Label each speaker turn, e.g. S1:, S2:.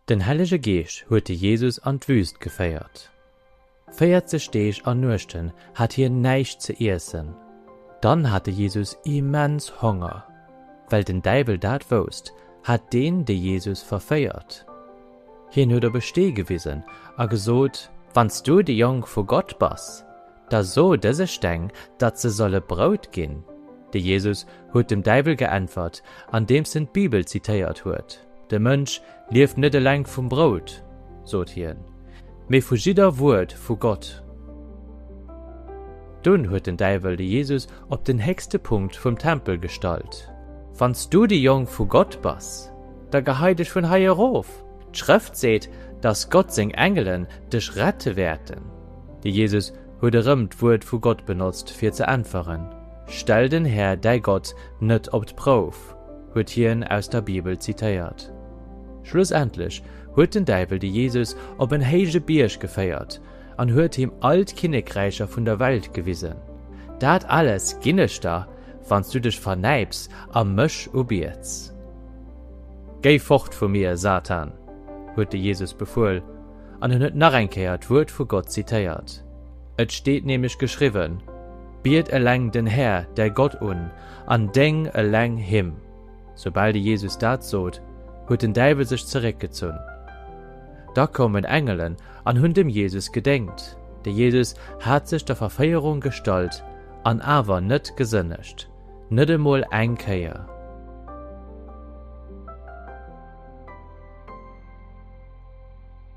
S1: Den Hellege Geescht huet de Jesus an d'Wüst geféiert. Véierzeg Deeg an Nuechten hat hien näischt ze iessen. Dann hat de Jesus immens Honger. Well den Däiwel dat wousst, hat deen de Jesus verféiert. Hien huet op e Stee gewisen a gesot, Wann s du de Jong vu Gott bass, Da so dëse Steng, datt se solle Brout ginn. De Jesus huet dem Däiwel geäntwert, andeems en d'Bibel zitéiert huet, De Mënsch lieft net eleng vum Brout, sot hien, mee vu jidder Wuert vu Gott. Dunn huet den Däiwel de Jesus op den héchste Punkt vum Tempel gestallt. Wann s du de Jong vu Gott bass, da gehei dech vun hei erof, d'Schrëft seet, datt Gott seng Engelen dech rette wäerten. De Jesus huet erëm d'Wuert vu Gott benotzt, fir ze äntweren, Stell den Här däi Gott net op d'Prouf, huet hien aus der Bibel zitéiert. Schlussendlech huet den Däiwel de Jesus op en héije Bierg geféiert an huet him all d'Kinnekräicher vun der Welt gewisen. Dat alles ginn ech der, wann s du dech vernäips a mech ubiets. Géi fort vu mir, Satan! huet de Jesus befuel. an en huet nach eng Kéier d'Wuert vu Gott zitéiert. Et steet nämlech geschriwwen, Biet eleng den Här, däi Gott un, an déng eleng him. Soubal de Jesus dat sot, huet den Däiwel sech zeréckgezunn. Da koumen Engelen an hunn dem Jesus gedéngt. De Jesus hat sech der Verféierung gestallt an awer net gesënnegt, net emol eng Kéier.